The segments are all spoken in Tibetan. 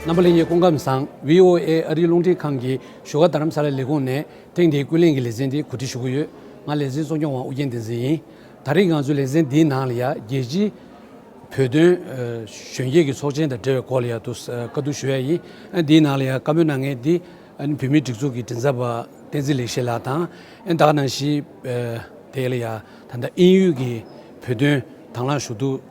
རྣམ་པ་གླིང་གི་སྐུ་ཁམས་བཟང VOA ཨ་རིའི་རླུང་འཕྲིན་ཁང་གི་བཞུགས་སྒར་རྡ་རམ་ས་ལའི་ལས་ཁུངས་ནས་ཐེངས་འདིའི་ཀུན་གླེང་གི་ལེ་ཚན་འདི་གོ་སྒྲིག་ཞུ་གི་ཡོད། ང་ལེ་ཚན་གཙོ་སྐྱོང་བ་ཨུ་རྒྱན་བསྟན་འཛིན་ཡིན། ད་རེས་ང་ཚོས་ལེ་ཚན་འདིའི་ནང་ལ་ཡ་རྒྱལ་སྤྱིའི་བོད་དོན་གཞོན་སྐྱེས་ཀྱི་ཚོགས་ཆེན་དང་འབྲེལ་བའི་སྐོར་ལ་ཡ་དུ་བཀའ་བསྡུར་ཞུ་ཡ་ཡིན། ཨན་འདིའི་ནང་ལ་ཡ་བཀའ་མོལ་གནང་མཁན་འདི་ཨན་བུད་མེད་སྒྲིག་འཛུགས་ཀྱི་མགྲིན་ཚབ་པ་བསྟན་འཛིན་ལེགས་བཤད་ལགས་དང་ཨན་དྭགས་ནང་བཞིའི་དེ་ལ་ཡ་ད་ལྟ་ཨིན་ཡུལ་གྱི་བོད་དོན་དྭང་བླངས་ཞུ་གཏུག་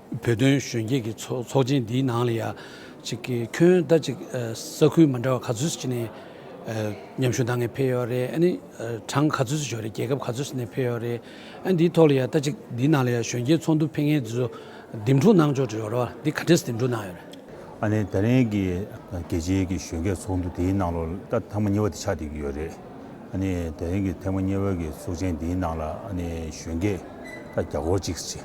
བོད་དོན་གཞོན་སྐྱེས་ཀྱི་ཚོགས་ཆེན་འདིའི་ནང་ལ་ཡང་གཅིག་གི་ཁྱོན་ཟླ་གཅིག་ས་ཁུལ་མི་འདྲ་བ་ག་ཚོད་ཅིག་ནས་ཉམས་ཞུགས་གནང་མཁན་ཕེབས་ཡོད་རེད་ཨ་ནི་གྲངས་ག་ཚོད་ཅིག་ཞོག་རེད་རྒྱལ་ཁབ་ག་ཚོད་ཅིག་ནས་ཕེབས་ཡོད་རེད་ཨ་འདིའི་ཐོག་ལ་ཡང་ཟླ་གཅིག་འདིའི་ནང་ལ་ཡང་གཞོན་སྐྱེས་ཚོགས་འདུ་ཕེབས་མཁན་དེ་ཚོ་འདེམས་སྒྲུག་གནང་ཕྱོགས་ཡོད་རེད་འདི་ག་འདྲས་སུ་འདེམས་སྒྲུག་གནང་ཡོད་རེད། ཨ་ནི་ད་རིང་གི་རྒྱལ་སྤྱིའི་གི་གཞོན་སྐྱེས་ཚོགས་འདུ་འདིའི་ནང་ལ་ད་ཐེངས་མ་གཉིས་བ་དེ་ཆགས་བསྡད་ཀྱི་ཡོད་རེད་ཨ་ནི་ད་རིང་གི་ཐེངས་མ་གཉིས་བ་གི་ཚོགས་ཆེན་འདིའི་ནང་ལ་ཨ་ནི་གཞོན་སྐྱེས་ད་བརྒྱ་སྐོར་ཅིག་ཅིག་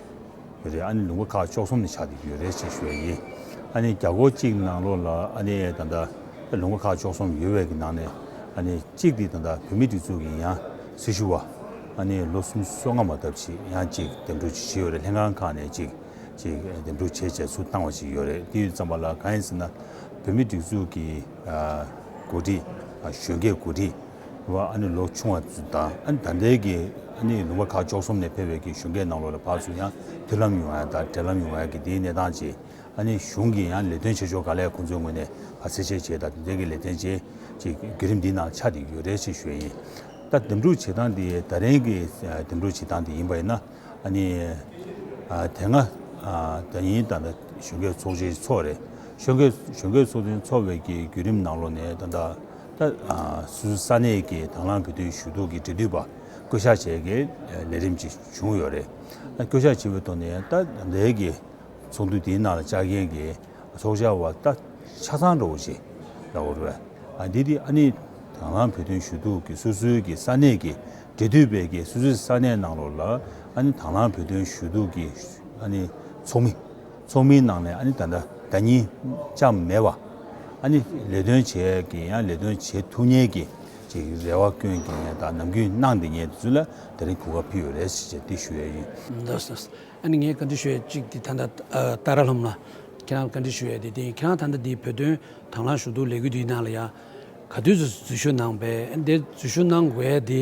ཡོད་རེད་ཨ་ནི་ལུང་པ་ཁ་ཕྱོགས་གསུམ་ནས་ཆགས་འདུག་ཡོད་རེད་ཅེས་ཞུ་བ་ཡིན། ཨ་ནི་རྒྱ་སྒོར་གཅིག་ནང་ལོགས་ལ་ཨ་ནི་ད་ལྟ་ལུང་པ་ཁ་ཕྱོགས་གསུམ་ཡོད་བས་ཀྱི་ནང་ནས་ཨ་ནི་གཅིག་དེ་ད་ལྟ་བོད་མི་སྒྲིག་འཛུགས་ཀྱི་ཡང་སྲིད་ཞུ་བ་ཨ་ནི་ལོ་གསུམ་སོ་ལྔ་མ་ཐབས་ཅིག་ཡང་གཅིག་འདེམས་སྒྲུག་བྱེད་ཀྱི་ཡོད་རེད་ལྷན་ཁང་ཁག་ནས་གཅིག་གཅིག་འདེམས་སྒྲུག་བྱེད་བྱེད་ཚུལ་བཏང་བ་ཅིག་ཡོད་རེད་དེ་ཙམ་པ་ལ་གང་ཡིན་ཟེར་ན་བོད་མི་སྒྲིག་འཛུགས་ཀྱི་གོ་སྒྲིག་གཞོན་སྐྱེས་གོ་སྒྲིག། བ་ཨ་ནི་ལོ་ཆུང་བ་ཚོ་དང་ད་ལྟའི་ཀྱི་ཨ་ནི་ལུང་པ་ཁ་ཅོག་གསུམ་ནས་ཕེབས་པའི་ཀྱི་གཞུང་སྒེར་ནང་ལོགས་ལ་བར་སུ་ཡང་མཐུན་ལམ་ཡོང་བ་དང་འབྲེལ་ལམ་ཡོང་བའི་ཀྱི་དེའི་གནས་སྟངས་ཀྱི་ཨ་ནི་གཞུང་གི་ཡང་ལས་དོན་བྱེད་ཕྱོགས་ག་ལས་ཁོང་ཚོའི་ངོས་ནས་བར་སེ་བྱས་བྱས་དང་དེ་འབྲེལ་ཀྱི་ལས་དོན་བྱས་ཀྱི་བརྒྱུད་རིམ་འདི་ནང་ཆ་དེ་ཡོད་རེད་ཅེས་ཞུ་ཡ་ཡིན། ད་འདེམས་སྒྲུག་བྱེད་སྟངས་དེ་ད་རིང་གི་འདེམས་སྒྲུག་བྱེད་སྟངས་དེ་ཡིན་པ་ཡིན་ན་ཨ་ནི་དེ་སྔ་ད་ཡིན་ད་གཞོན་སྐྱེས་ཚོགས་ཆེན་ཚོགས་རེད་གཞོན་སྐྱེས་གཞོན་སྐྱེས་ཚོགས་ཆེན་ཚོགས་བའི་ཀྱི་བརྒྱུད་རིམ་ནང་ལོགས་ནས་ད་ད་ད་གཟོད་ས་གནས་ཀྱི་དང་བླངས་ཀྱི་དུས་ཞུ་གཏུག་གི་འབྲེལ་མཐུད་པ་བསྐོ་གཞག་བྱས་རྗེས་ལས་རིམ་ཅིག་བྱུང་ཡོད་རེད། བསྐོ་གཞག་བྱས་པའི་ཐོག་ནས་ད་ལྟའི་གི་ཚོགས་འདུ་དེའི་ནང་ལ་བཅར་མཁན་གྱི་ཚོགས་བཅར་བ་ད་ཆ་ཚང་འགྲོ་བ་ཞིག་ལ་འོས་རེད། འདི་དེ་ཨ་ནི་དང་བླངས་བོད་དོན་ཞུ་གཏུག་གི་སོ་སོའི་གི་ས་གནས་ཀྱི་འབྲེལ་མཐུད་པས་གི་སོ་སོའི་ས་གནས་ནང་ལོགས་ལ་ཨ་ནི་དང་བླངས་བོད་དོན་ཞུ་གཏུག་གི་ཨ་ནི་ཚོགས་མི། ཚོགས་མིའི་ནང་ནས་ཨ་ནི་ད་ལྟ་བདག་ཉིད་ཅང་མེད་བ། ཨ་ནི་ལས་དོན་བྱས་ཀྱི་ཡང་ལས་དོན་བྱེད་ཐུབ་ཉེས་ཀྱི་ཅིག་རེ་བ་སྐྱོན་གྱི་ཉེས་དང་ནམ་རྒྱུན་གནང་འདི་ཉེས་ཚུལ་ལ་ད་རིང་གོ་བ་ཕུལ་བས་རེད་ཅེས་བསྟི་ཞུ་ཡས་ཡིན། ཨ་ནི་ངས་བཀའ་འདྲི་ཞུ་ཡས་ཅིག་དེ་ད་ལྟ་ཏཱ་ར་ལྷམ་ལ་ཁྱེད་རང་བཀའ་འདྲི་ཞུ་ཡས་དེ་དེ་ཁྱེད་རང་ད་ལྟ་འདི་བོད་དོན་དང་ལངས་ཞུ་འདུག་ལས་འགུལ་འདི་ནང་ལ་ཡང་ག་དུས་སུ་འཛུལ་ཞུགས་གནང་བས་འདིར་འཛུལ་ཞུགས་གནང་དགོས་ཡས་དེ་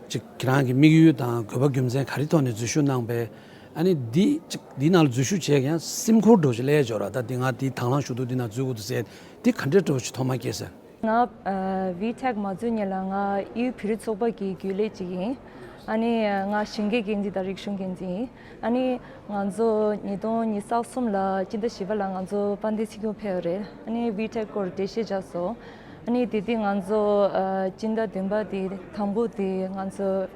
ཅིག་ཁྱེད་རང་གི་དམིགས་ཡུལ་དང་དགོས་པ་རྒྱུ་མཚན་ག་རི་ཐོག་ནས་འཛུལ་ཞུགས་གནང་བས། ཨ་ནི་འདི་ཅིག་འདི་ན་འཛུལ་ཞུགས་བྱས་ཀྱང་སེམས་འཁོར་འགྲོ་བྱེད་ལས་སྦྱོར་བ་ད་འདི་ང་འདི་དྭང་བླངས་ཞུགས་འདུག་འདི་ན་འཛུལ་འོག་ཏུ་ཟད་དེ་ག་འདྲའི་གྲོགས་ཤིག་ཐོག་མར་སྐྱེས་ཟེར། ང VTech མ་འཛུལ་ཉིན་ལ་ང་གཡུའི་བེ་རི་ཚོགས་པ་གི་རྒྱུན་ལས་ཅིག་ཡིན། ཨ་ནི་ང་ཞིང་གའི་འགན་འཛིན་དང་རིག་གཞུང་འགན་འཛིན་ཡིན། ཨ་ནི་ང་ཚོ་ཉིས་སྟོང་ཉིས་སྟག་གསུམ་ལ་སྤྱི་ཟླ་བཞི་པ་ལ་ང་ཚོ་དཔའ་མཐའི་ཚིག་སྐྱོང་ཕེབས་པ་རེད། ཨ་ནི VTech སྐོར་འགྲེལ་བཤད་རྒྱག་སོང། ཨ་ནི་དེ་དུས་ང་ཚོ་སྤྱི་ཟླ་བདུན་པ་དེ་དང་པོ་དེ་ང་ཚོ།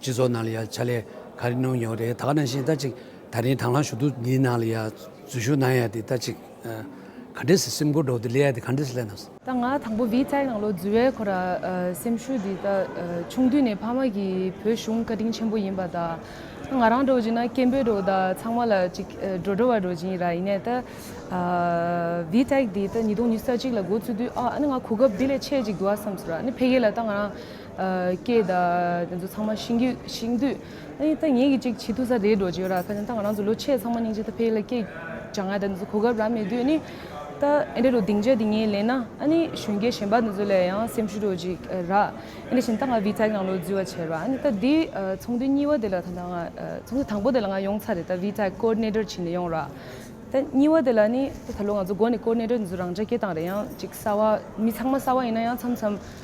སྤྱི་ཚོགས་ནང་ལ་ཡང་ཕྱག་ལས་ག་རེ་གནང་མྱོང་རེད་ད་ག་ནང་བཞིན་ལྟ་ཅིག་ད་རིང་དྭང་བླངས་ཞུ་གཏུག་འདིའི་ནང་ལ་ཡང་འཛུལ་ཞུགས་གནང་ཡ་དེ་ལྟ་ཅིག་ག་འདྲེ་སེམས་ཁུར་འགྲོ་དེ་སླེ་ཡ་དེ་ག་འདྲེ་སླེ་ནང། ད་ང་དང་པོ་བིས་ཙའི་ནང་ལོ་འཛུལ་བའི་ཁོ་ར་སེམས་ཤུགས་འདི་ད་ཆུང་དུས་ནས་ཕ་མ་གི་བོད་གཞུང་བཀའ་དྲིན་ཆེན་པོ་ཡིན་པ་ད་ང་རང་འགྲོ་བཞིན་ན་སྐད་འབོད་འགྲོ་ད་ཚང་མ་ལ་ཅིག་འགྲོ་འགྲོ་བ་འགྲོ་བཞིན་ར་ཡིན་ནས་ད་བིས་ཙའི་དེ་ད་ཉིས་སྟོང་ཉི་ས་གཅིག་ལ་འགོ་ཚུགས་དུས་ཨ་ནི་ང་གོ་སྐབས་དེ་ལས་ཆེ་ཅིག་འདུག་ཨ་བསམས་སོ་ར་ནི་ཕེ་གེ་ལ་ད་ང་རང། སྐད། དེ་ཚོ་ཚང་མ་ཤིང་རྒྱུད་ཤིང་དུས། ད་ངེད་ཀྱིས་ཅིག་བྱེད་ཐུག་ས་རེད་འགྲོ་གྱི་ཡོད་ར་ཁ་ཅན་ད་ང་རང་ཚོ་ལོ་ཕྱེད་ཚང་མ་སྙིང་རྗེ་ད་ཕེ་ལ་སྐད། བྱ་ང་ད་འདི་ཚོ་གོ་སྐབས་རག་མེད་དུས་ནི། ད་ཨེ་འདྲ་རུ་སྡིངས་ཆ་འདི་ངས་ལེན་ན་ཨ་ནི་གཞོན་སྐྱེས་གཞན་པ་འདི་ཚོ་ལས་ཡང་སེམས་ཤུགས་འགྲོ་གྱི་ར། ཨེ་འདྲ་བཞིན་ད་ང་བི་ཚའི་ནང་ལོག་འཛུལ་བ་བྱས་ར་ཨ་ནི་ད་འདི་ཚོང་དུས་གཉིས་བ་དེ་ལ་ད་ང། ཚོང་དུས་དང་པོ་དེ་ལ་ང་ཡོང་ཚར་རེད་ད་བི་ཚའི་ཀོ་རནེ་ཏར་བྱས་ནས་ཡོང་ར། ད་གཉིས་བ་དེ་ལ་ནི་ད་ད་ལོ་ང་ཚོ་དགོན་ནས་ཀོ་རནེ་ཏར་འདི་ཚོ་རང་འདྲ་སྐྱེ་སྟངས་རེད་ཡང་ཅིག་གསར་བ་མི་ཚང་མ་གསར་བ་ཡིན་ན་ཡང་མཚམས་མཚམས།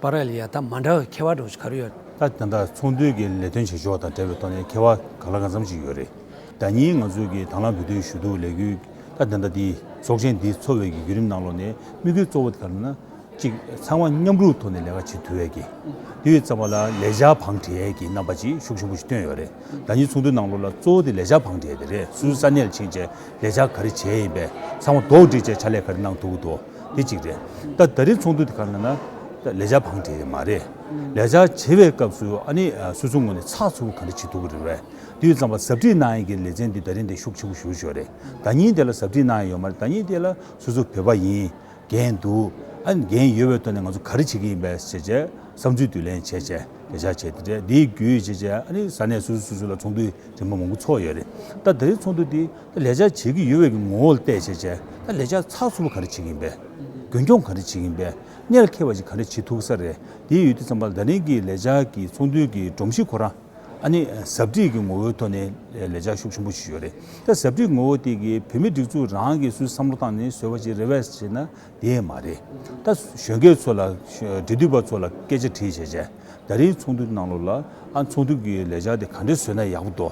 པར་རེད་ཡ་ད་མ་འདྲ་བའི་ཁེ་བ་སྒྲོག་གི་ག་རེ་ཡོད་རེད། ད་ད་ལྟ་ཚོང་དོན་གྱི་ལས་དོན་བྱེད་ཕྱོགས་དང་འབྲེལ་བའི་ཐོག་ནས་ཁེ་བ་ག་ལ་གང་འཚམ་ཞིག་ཡོད་རེད། ཟླ་གཉིས་ང་ཚོས་ཀྱིས་དང་བླངས་འབུལ་སྟོན་ཞུས་འདུག་ལས་འགུལ་ད་ད་ལྟ་འདིའི་ཚོགས་ཆེན་འདི་འཚོ་བའི་བརྒྱུད་རིམ་ནང་ལོགས་ནས་དམིགས་ཡུལ་གཙོ་བོ་དེ་ག་རེ་ན། གཅིག་ཚང་མ་མཉམ་རུབ་ཐོག་ནས་ལས་ཀ་བྱེད་ཐུབ་འོས་ཀྱི། དེ་ཡོད་ཙམ་པ་ལ་ལས་བྱ་བང་བྲལ་གྱི་རྣམ་པ་ཅིག་ཤུགས་ཆེན་པོ་ཞིག་བཏོན་ཡོད་རེད། ཟླ་གཉིས་ཚོགས་འདུའི་ནང་ལོགས་ལ་གཙོ་བོ་དེ་ལས་བྱ་བང་བྲལ་དེ་རེད་སུས་ས་གནས་ལ་ཕྱིན་རྗེས་ལས་བྱ་ག་རེ་བྱས་ཡིན་པས་ཚང་མ་དོགས་འདྲི་བྱས་ཕྱག་ལས་ག་རེ་གནང་ཐུབ་ཀྱི་འདུག་དེ་གཅིག་རེད། ད་ད་རེས་ཚོགས་འདུ་དེ་ག་ནང་ན་ལས་འཆར་བང་བྲིས་མ་རེད། ལས་འཆར་བྱེད་པའི་སྐབས་སུ་ཨ་ནི་སོ་སོའི་ངོས་ནས་ཚགས་ཚུད་པོ་ག་རེ་བྱེད་ཐུབ་ཀྱི་རེད་བས། དེ་ཡོད་ཙམ་པ་ཟབ་ཁྲིད་གནང་ཡས་ཀྱི་ལེ་ཚན་འདི་ད་རེས་འདི་ཤུགས་ཆེན་པོ་ཞུ་ཞོར་རེད། ད་ཉིན་དེ་ལ་ཟབ་ཁྲིད་གནང་ཡས་ཡོད་མ་རེད་ད་ཉིན་དེ་ལ་སོ་སོ་བོད་པ་ཡིན། འགན་འདུག་ཨ་ནི་འགན་ཡོད་པའི་ཐོག་ནས་ང་ཚོ་ག་རེ་བྱེད་ཀྱི་ཡིན་པའི་བྱས་བྱས་བསམ་ཚུལ་བསྡུ་ལེན་བྱས་བྱས་ལས་འཆར་བྱས་དེ་འདྲས་འདིའི་བརྒྱུད་བྱས་བྱས་ཨ་ནི་ས་གནས་སོ་སོས་སོ་སོ་ལ་ཚོགས་འདུ་རིང་མོ་མང་པོ་ཚོགས་ཡས་རེད། ད་ད་རེས་ཚོགས་འདུ་དེ། ད་ལས་འཆར་བྱེད་ཀྱི་ཡོད་བས་ཀྱི་ངོ་བོ་ལ་བལྟས་བྱས་བྱས་ད་ལས་འཆར་ཚགས་ཚུད་པོ་ག་རེ་བྱེད་ཀྱི་ཡིན་པས། རྒྱུན་སྐྱོང་ག་རེ་བྱེད་ཀྱི་ཡིན་པས་གནད་འཁེལ་བ་ཞིག་ག་རེ་བྱེད་ཐུག་ས་རེད་དེའི་ཡུལ་དུ་བསམ་པ་ལ་ད་རིང་གི་ལས་འཆར་གྱི་ཚོགས་འདུའི་གི་སྒྲོམ་གཞི་ཁོ་རང་ཨ་ནི་ཟབ་ཁྲིད་ཀྱི་ངོ་བོའི་ཐོག་ནས་ལས་འཆར་ཤུགས་ཆེན་པོ་ཞིག་ཡོད་རེད་ད་ཟབ་ཁྲིད་ཀྱི་ངོ་བོ་དེ་གི་བོད་མི་སྒྲིག་འཛུགས་རང་གི་སུས་བསམ་བློ་བཏང་ནས་བཟོས་པ་ཞིག་རེད་བས་བྱས་ན་དེ་མ་རེད་ད་གཞོན་སྐྱེས་ཚོ་ལ་འབྲེལ་མཐུད་པ་ཚོ་ལ་སྐད་ཆ་དྲིས་བྱས་བྱས། ད་རིང་ཚོགས་འདུ་གནང་ལོ་ལ་ཨ་ཚོགས་འདུ་གི་ལས་འཆར་དེ་ག་འདྲས་བཟོས་ན་ཡག་པོ་འདོ།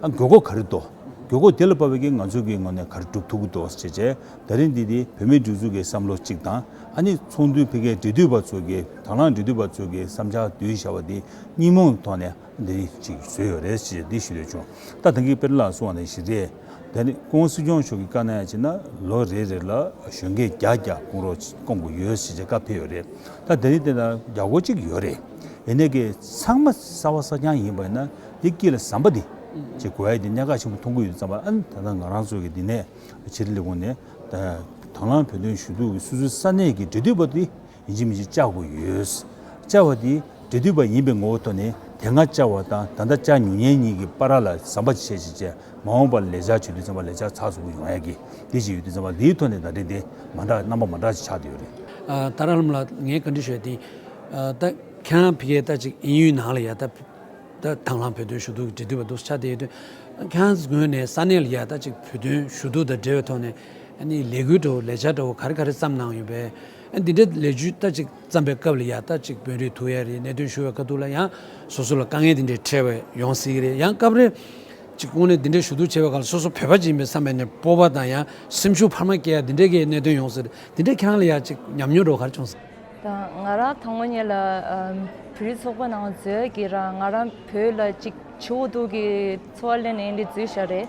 ཨ་དགོས་མཁོ་ག་རེ་འདོ། དགོས་མཁོ་དེ་ལ་དཔར་བའི་གེགས་ང་ཚོ་གི་ངོས་ནས་ག་རེ་སྒྲུབ་ཐུབ་ཀི་འདོ་ཞེས་བྱས་ད་རིང་འདི་དེ་བོད་མིའི་སྒྲིག་འཛུགས་ཀྱི་བསམ་བློ་གཅིག་དང་ཨ་ནི་ཚོགས་འདུའི་ཕི་གའི་འབྲེལ་མཐུད་པ་ཚོ་གི་དང་བླངས་འབྲེལ་མཐུད་པ་ཚོ་གི་བསམ་འཆར་བསྡུ་བཞག་པ་དེ་གཉིས་མོ་ཐོག་ནས་ཨ་འདི་རིང་གཅིག་བཟོས་ཡོད་རེད་ཅེས་འདི་ཞུ་འདོད་བྱུང་ད་ད་གིས་དཔེར་ན་སུ་བ་ན་ཞི་རེད། ད་ནི་ཀོང་སི་སྐྱོང་མཆོག་གི་བཀའ་ན་ཡང་བྱས་ན་ལོ་རེ་རེ་ལ་གཞོན་སྐྱེས་བརྒྱ་བརྒྱ་སྐོང་རོགས་སྐོང་དགོས་ཡོད་ཞེས་བཀའ་ཕེབས་ཡོད་རེད་ད་ད་ནི་དེ་དང་རྒྱ་སྒོ་གཅིག་ཡོད་རེད་ཡིན་ནའི་ཀྱེ་ཚང་མ་གསར་བ་གསར་རྐྱང་ཡིན་པ་ཡིན་ན་འདི་སྐྱིད་ལ་ཟམ་པ་འདི་ཅེས་གོ་ཡ་འདི་གཉའ་ཁག་ཆེན་པོ་མཐོང་གི་ཡོད་ཙང་པ་ཨན་ད་ནང་ང་རང་ཚོ་གི་འདི་ནས་ཕྱིར་ལས་ཁུངས་ནས་དང་བླངས་བོད་དོན་ཞུ་གཏུག་གི་སུད་སི་ས་གནས་ཀྱི་འབྲེལ་མཐུད་པ་འདི་ཡིན་གཅིག་མིན་གཅིག་བཅའ་དགོས་ཡོད། བཅའ་བ་དེ་འབྲེལ་མཐུད་པ་ཡིན་པའི་ངོ་བོ་ཐོག་ནས་དེ་སྔ་བཅའ་བ་དང་ད་ལྟ་བཅའ་མྱོང་མཁན་གཉིས་ཀྱི་པར་ར་ལ་ཟམ་པ་ཆེ་ཆེ་བྱས་མ་འོངས་པར་ལས་འཆར་བྱེད་དུས་ཟམ་པ་ལས་འཆར་ཚགས་ཚུད་པོ་ཡོང་ཡག་གི་དེ་བྱེད་ཡུལ་དུ་ཟམ་པ་འདིའི་ཐོག་ནས་བརྡ་འཕྲིན་དེ་མ་འདྲ་རྣམ་པ་མ་འདྲ་ཞིག་ཆགས་འདོད་ཡོད་རེད། ཏཱ་ར་ལམ་ལགས་ངས་ག་འདྲི་ཞུ་ཡ་དེ་ད་ཁྱེད་རང་ཕི་གའི་ད་ཅིག་ཨིན་ཡུལ་ནང་ལ་ཡ་ད་ད་དང་ལྷང་བོད་དོན་ཞུ་གཏུག་འབྲེལ་མཐུད་པ་འདུག་ཆ་དེ་ཡོད་དུས་ཁྱེད་རང་ངོས་ནས་ས་གནས་ལ་ཡ་ད་ཅིག་བོད་དོན་ཞུ་གཏུག་དང་འབྲེལ་བའི་ཐོག་ནས་ཨ་ནི་ལས་འགུལ་འདྲ་བོ་ལས་འཆར་འདྲ་བོ་ག་རེ་ག་རེ་བརྩམས་གནང་ཡོད་པས། འདི་འདྲའི་ལས་ཇུས་ལྟ་ཅིག་བརྩམས་པའི་སྐབས་ལ་ཡང་ལྟ་ཅིག་དཔོན་རིགས་ཐུག་ཡ་རེད་གནད་དོན་ཞུ་བའི་ཁ་ཐུག་ལ་ཡང་སོ་སོ་ལ་དཀའ་ངལ་འདི་འདྲའི་འཕྲད་པ་ཡོང་སྲིད་ཀྱི་རེད་ཡང་སྐབས་རེ་ཅིག་ཁོང་ནས་འདི་འདྲའི་ཞུ་གཏུག་བྱས་པའི་ཁར་སོ་སོ་བོད་པ་ཅིག་ཡིན་པའི་བསམ་པའི་ནས་སྤོབས་པ་དང་ཡང་སེམས་ཤུགས་འཕར་མ་སྐྱེ་ཡ་འདི་འདྲའི་གི་གནད་དོན་ཡོང་སྲིད་རེད་འདི་འདྲའི་ཁྱེད་རང་ལ་ཡང་ཅིག་ཉམས་མྱོང་འགྲོ་གར་བྱུང་སྲིད། དང་ང་རང་ཐང་མོ་ཉིད་ལ་བོད་རིགས་ཚོགས་པ་ནང་འཛོལ་གྱི་རང་ང་རང་བོད་ལ་ཅིག་ཆུ་བོ་གཏུག་གི་འཚོ་བ་གླེང་ནས་འདི་འཛུལ་བཞག་རེད།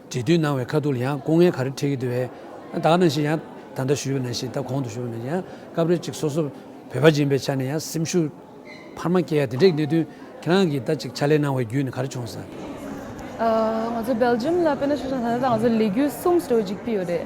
འབྲེལ་མཐུད་གནང་བའི་ཁ་ཐུག་ལ་ཡང་སྐུ་ངལ་ག་རེ་འཕྲད་ཀྱི་འདུག་བས། ད་ནང་བཞིན་ཡང་ད་ལྟ་ཞུས་པ་ནང་བཞིན་ད་གོང་དུ་ཞུས་པ་ནང་བཞིན་ཡང་སྐབས་རེ་གཅིག་སོ་སོ་བོད་པ་སྦྱིན་པའི་ཆ་ནས་ཡང་སེམས་ཤུགས་འཕར་མ་སྐྱེ་ཡ་དེ་འདྲའི་གནད་དོན་ཁྱེད་རང་གིས་ད་ཅིག་ཕྱག་ལས་གནང་བའི་བརྒྱུད་ནས་ག་རེ་བྱུང་སོང། ང་ཚོ་སྦེལ་ཇམ་ལ་དཔེར་ན་ཤུགས་ཆེན་ཐོན་ན་ད་ང་ཚོ་ལས་རྒྱུ་གསུམ་ཟེར་བ་ཅིག་ཡོད་རེད།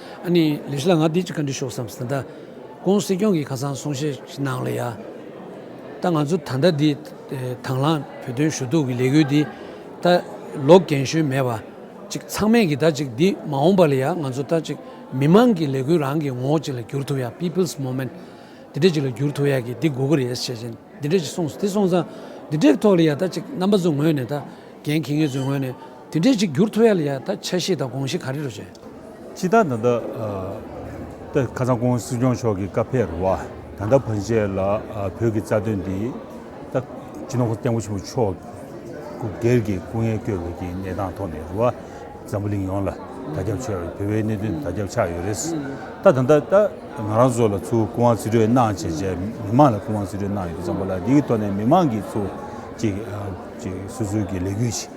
ཨ་ནི་ལས་གཞི་ལ་ང་འདི་ཅིག་ག་འདྲི་ཤོག་བསམ་ཟིན་ད། ཀོང་སྲིད་སྐྱོང་གིས་ཁ་སང་གསུང་བཤད་ཞིག་གནང་ལ་ཡ། ད་ང་ཚོ་ད་ལྟ་འདི་དང་བླངས་བོད་དོན་ཞུ་གཏུག་གི་ལས་འགུལ་འདི་ད་ལོ་གན་ཞོན་མེད་པ་ཅིག་ཚང་མས་ཀྱིས་ད་ཅིག་འདི་མ་འོངས་པ་ལ་ཡ་ང་ཚོ་ད་ཅིག་མི་མང་གི་ལས་འགུལ་རང་གི་ངོ་བོ་ཅིག་ལ་འགྱུར་ཐུབ་ཡ people's movement འདི་འདྲ་ཅིག་ལ་འགྱུར་ཐུབ་ཡ་གི་འདི་དགོས་ཀྱི་རེད་བཤད་བྱེད་འདི་འདྲ་ཅིག་སོང་དེ་སོང་ཙང་འདི་འདྲའི་ཐོག་ལ་ཡ་ད་ཅིག་རྣམ་པ་ཚོའི་ངོས་ནས་ད་རྒན་ཁྱི་ངན་ཚོའི་ངོས་ནས་འདི་འདྲ་ཅིག་འགྱུར་ཐུབ་ཡ་ལ་ཡ་ད་འཆར་གཞི་དང་དགོངས་གཞི་ག་རེ་རུ་བྱས། ཕྱི་ཟླ་ད་ལྟ། ཁ་སང་ཀོང་སི་སྐྱོང་མཆོག་གིས་ཀ་ཕེར་བ་ད་ལྟ་བོན་ཆས་ལ་བོད་ཀྱི་རྩ་དོན་འདི། ད་ཅི་ནོར་བསྟན་འགོ་ཆེན་པོ་མཆོག་སྐུ་སྒེར་གྱི་སྐུ་ངལ་སྐྱོ་བའི་གྱི་གནས་སྟངས་ཐོག་ནས་རུ་བ་འཛམ་བུ་གླིང་ཡོངས་ལ་དར་ཁྱབ་ཆེ་བར་བོད་བའི་གནད་དོན་དར་ཁྱབ་ཆགས་ཡོད་རེད། ད་ད་ད་ད་ང་རང་ཚོ་ལ་ཚུར་སྐུ་དབང་རྩིས་སྤྲོད་གནང་བྱས་རྗེས་མི་མང་ལ་སྐུ་དབང་རྩིས་སྤྲོད་གནང་ཡོད་ཙང་པ་ལ་འདིའི་ཐོག་ནས་མི་མང་གིས་ཚུར་གཅིག་གཅིག་སོ་སོའི་གྱི་ལས་འགུལ་བྱེད།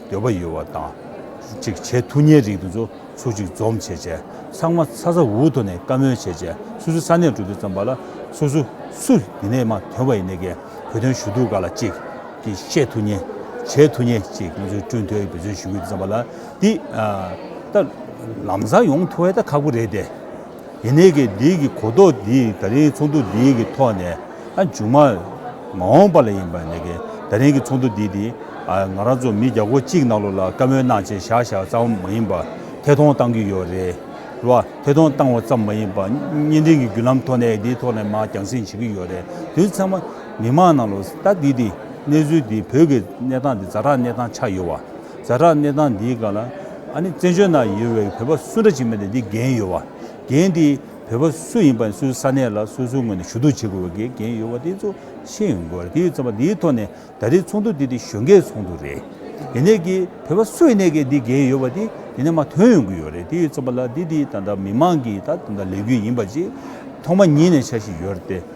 འདོད་པ་ཡོད་བ་དང་གཅིག་བྱས་ཐུགས་ཉེ་རིང་དུ་འཛོ་ཚུགས་གཅིག་འཛོམས་བྱས་བྱས་ཚང་མ་ཚ་ཚ་འུར་འུར་ཐོག་ནས་བཀའ་མོལ་བྱས་བྱས་སུ་སུ་ས་གནས་འགྲོ་དུས་ཙམ་པ་ལ་སུ་སུ་སུ་ཡིན་ནས་མ་དོན་བ་ཡིན་ནས་གས་བོད་དོན་ཞུ་གཏུག་ག་ལ་གཅིག་གིས་བཤད་ཐུགས་ཉེ་བྱས་ཐུགས་ཉེ་གཅིག་ང་ཚོའི་སྤྲུན་ཐོས་ཀྱི་འབོད་བརྩོན་ཞུ་གི་འདི་ཙམ་པ་ལ་འདི་ད་ལམ་བཟང་ཡོང་ཐུག་བས་ད་ཁག་པོ་རེད་དེ། དེ་ནས་དགེ་སྡིག་གི་གོ་རྟོགས་འདི་ད་རིང་ཚོགས་འདུ་འདི་གི་ཐོག་ནས་མཇུག་མ་མ་འོངས་པ་ལ་ཡིན་པ་ནས་གི་ད་རིང་གི་ཚོགས་འདུ་འདི་དེ་ང་རང་ཚོ་མི་བརྒྱ་གོ་གཅིག་གནང་ལོ་ལ་བཀའ་མོལ་གནང་བྱས་བཞག་བཞག་ཙམ་མ་ཡིན་པ་ཐད་གཏོང་གཏང་གི་ཡོད་རེད་ལ་ཐད་གཏོང་གཏང་བ་ཙམ་མ་ཡིན་པ་བརྙན་འཕྲིན་གི་བརྒྱུད་ལམ་ཐོག་ནས་དེའི་ཐོག་ནས་མ་རྒྱང་སྲིང་བྱེད་ཀྱི་ཡོད་རེད་དུས་ཚང་མ་མི་མང་ནང་ལོ་ལྟ་འདི་དེ་གནས་ཚུལ་འདི་བོད་ཀྱི་གནས་སྟངས་འདི་རྫ་དྲག་གནས་སྟངས་ཆགས་ཡོད་བ། རྫ་བྲག་གནས་སྟངས་འདིའི་སྒང་ལ། ཨ་ནི་བཙན་བྱོལ་ནང་ཡོད་བའི་བོད་པ་སུ་འདྲ་ཅིག་མེད་ནས་འདི་འགན་ཡོད་བ། རྒན་འདི་བོད་པ་སུ་ཡིན་པ་སུའི་ས་གནས་ལ་སོ་སོའི་ངོས་ནས་ཞུ་གཏུག་བྱེད་དགོས་བའི་འགན་ཡོད་བ་དེ་ཚོ་ཤེས་ཡོན་དགོས་དེའི་ཚོད་པ་འདིའི་ཐོག་ནས་ད་རེས་ཚོགས་འདུ་འདི་དེ་གཞོན་སྐྱེས་ཚོགས་འདུ་རེད། དེ་ནས་ཀྱི་བོད་པ་སུ་ཡིན་ནས་ཀྱི་འདི་འགན་ཡོད་བ་དེ་དེ་ནས་མ་ཐོན་ཡོང་གི་ཡོད་རེད་དེའི་ཚོད་པ་ལ་འདི་དེའི་ད་ལྟ་མི་མང་གི་ད་ལྟ་ལས་རྒྱུ་ཡིན་པ་ཅིག་ཐོག་མ་ཉིད་ནས་ཆགས་བཞིན་ཡོད་རེད་དེ།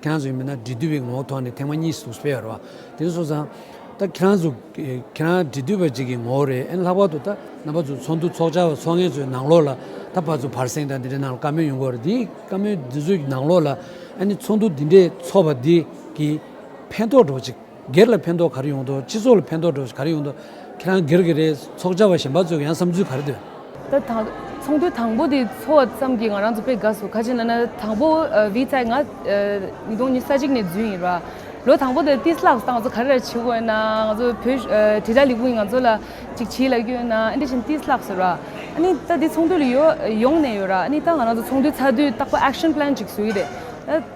ཁྱེད་རང་ཚོ་ཡིན་པས་ན་འབྲི་དུས་པའི་ངོ་བོ་ཐོག་ནས་ཐེངས་མ་གཉིས་སུ་སྤེལ་བར་བ། དེ་ནས་སོང་ཙང། ད་ཁྱེད་རང་ཚོ། ཁྱེད་རང་འབྲི་དུས་པ་ཅིག་གི་ངོ་བོ་རེད་ཨེ་ལྷག་པར་དུ་ད་རྣམ་པ་ཚོ་ཚོགས་འདུ་ཚོགས་བཅར་བ་ཚོ་ངེད་ཚོའི་ནང་ལོགས་ལ་ད་བར་ཚོ་བར་གསེང་དང་འདི་འདྲའི་ནང་ལ་བཀའ་མོལ་ཡོང་གི་རེད་འདིའི་བཀའ་མོལ་འདི་ཚོའི་ནང་ལོགས་ལ་ཨ་ནི་ཚོགས་འདུ་འདི་འདྲའི་ཚོགས་པ་འདི་གིས་ཕན་ཐོགས་གྲོགས་ཅིག། སྒེར་ལ་ཕན་ཐོག་ག་རེ་ཡོང་ཐོག་སྤྱི་ཚོགས་ལ་ཕན་ཐོག་འགྲོ་ག་རེ་ཡོང་ཐོག་ཁྱེད་རང་སྒེར་གི་རེད་ཚོགས་བཅར་བ་གཞན་པ་ཚོས་ཀྱང་བསམ་ཚུལ་ག་རེ་འདོན། ད་ཚོགས་འདུ་དང་པོ་དེ་འཚོགས་བ་ཙམ་གྱིས་ང་རང་ཚོ་དཔེ་དགའ་སོ་ག་ཅིག་ན་ན་དང་པོ་བྷི་ཚའི་ང་ཉིས་སྟོང་ཉི་ས་གཅིག་ནས་རྫུན་ཡིན་ར་ལོ་དང་པོ་དེ་ཏིས་ལགས་སང་ང་ཚོ་ག་རེ་ར་བྱེད་དགོས་ཡོད་ན་ང་ཚོ་བོད་དྲིལ་བསྒྲགས་ལས་ཁུངས་ཀྱིས་ང་ཚོ་ལ་ཅིག་བྱེད་ལ་རྒྱུ་ཡོད་ན་ཨ་འདྲི་བཞིན་ཏིས་ལགས་ཟེར་ར་ཨ་ནི་ད་དེ་ཚོགས་འདུ་ལ་ཡོང་ནས་ཡོད་ར་ཨ་ནི་ད་ང་རང་ཚོ་ཚོགས་འདུ་ཚགས་དུས་རྟག་པ action plan ཅིག་བཟོ་གི་རེད་ད།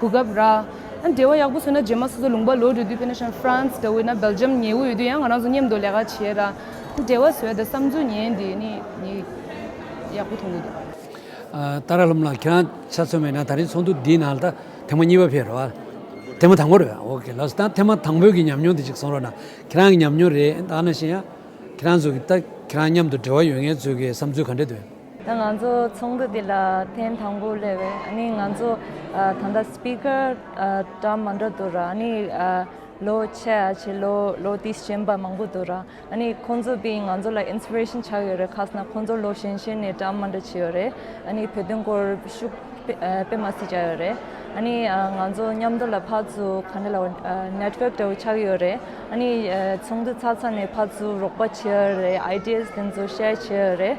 གོ་སྐབས་རག། འབྲེལ་བ་ཡག་པོ་བཟོས་ན་རྗེས་མ་སོ་སོ་ལུང་པ་ལོ་རེ་དུས་ཕེནྜ་ཤང་ཧྥ་རན་སི་འོད་ན་བེལ་ཇམ་ཉེ་འོད་དུས་ཡང་ང་རང་ཚོ་མཉམ་དུ་ལས་ཀ་བྱས་ལ། འབྲེལ་བ་བཟོས་ད་བསམ་ཚུལ་ཉན་དེ་ནི་ནི་ཡག་པོ་ཐོང་གི་འདུག། ཏཱ་ར་ལུམ་ལགས་ཁྱེད་རང་ཆ་མཚོན་མེད་ན་ད་རིང་ཚོགས་འདུ་འདིའི་ནང་ད་ཐེངས་མ་གཉིས་པ་ཕེབས་རོགས། ཐེངས་མ་དང་པོ་རེད་འོ་ཁེ་ལགས་སོ་ད་ཐེངས་མ་དང་པོའི་གི་ཉམས་མྱོང་དེ་ཅིག་གསུང་རོགས་གནང་ཁྱེད་རང་གི་ཉམས་མྱོང་རེད་ཨ་ན་ཤེས་ཡ། ཁྱེད་རང་ཚོ་གི་ད་ཁྱེད་རང་མཉམ་དུ་འབྲེལ་བ་ཡོད་ངེས་ཚོད་ཀྱི་བསམ་ཚུལ་ག་འདྲ་འདུག་ཡ། ད་ང་ཚོ་ཚོགས་འདུ་འདི་ལ་ཐེངས་དང་པོ་སླེབས་བས་ནི་ང་ཚོ་ད་ལྟ Speaker གྲ་མང་འདྲ་འདུག་ར་ནི་ལོ་ཆེ་ཆེ་ལོ་ལོ་དེའི་གཞན་པ་མང་པོ་འདུག་ར་ནི་ཁོང་ཚོ་པི་ང་ཚོ་ལ Inspiration ཆགས་ཡོད་རེད་ཁ་སང་ཁོང་ཚོ་ལོ་གཞན་གཞན་ནས་གྲ་མང་འདྲ་བྱས་ཡོད་རེད་ནི་བོད་དོན་སྐོར་ཤུགས་དཔེ་མ་སི་བྱས་ཡོད་རེད་ནི་ང་ཚོ་མཉམ་དུ་ལ་ཕར་ཚུར་ག་འདྲ་ལ Network འདྲ་བོ་ཆགས་ཡོད་རེད་ནི་ཚོགས་འདུ་ཚགས་ཚགས་ནས་ཕར་ཚུར་རོགས་པ་བྱས་ཡོད་རེད Ideas དེ་ཚོ Share བྱས་ཡོད་རེད།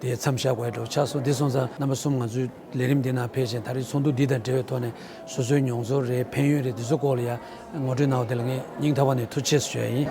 དེ་མཚམས་བཞག་དགོས་འགྲོ་ཆགས་སོང་འདི་སོང་ཙང་རྣམ་པ་གསུམ་ང་ཚོའི་ལས་རིམ་འདི་ནང་ཕེབས་ཤིང་ད་རེས་ཚོགས་འདུ་འདི་དང་འབྲེལ་བའི་ཐོག་ནས་སོ་སོའི་མྱོང་ཚོར་རེད་ཕན་ཡོན་རེད་འདི་ཚོ་སྐོར་ལ་ཡང་ངོ་སྤྲོད་གནང་བ་དེ་ལ་ངས་སྙིང་ཐག་པ་ནས་ཐུགས་ཆེ་ཞུ་ཡ་ཡིན།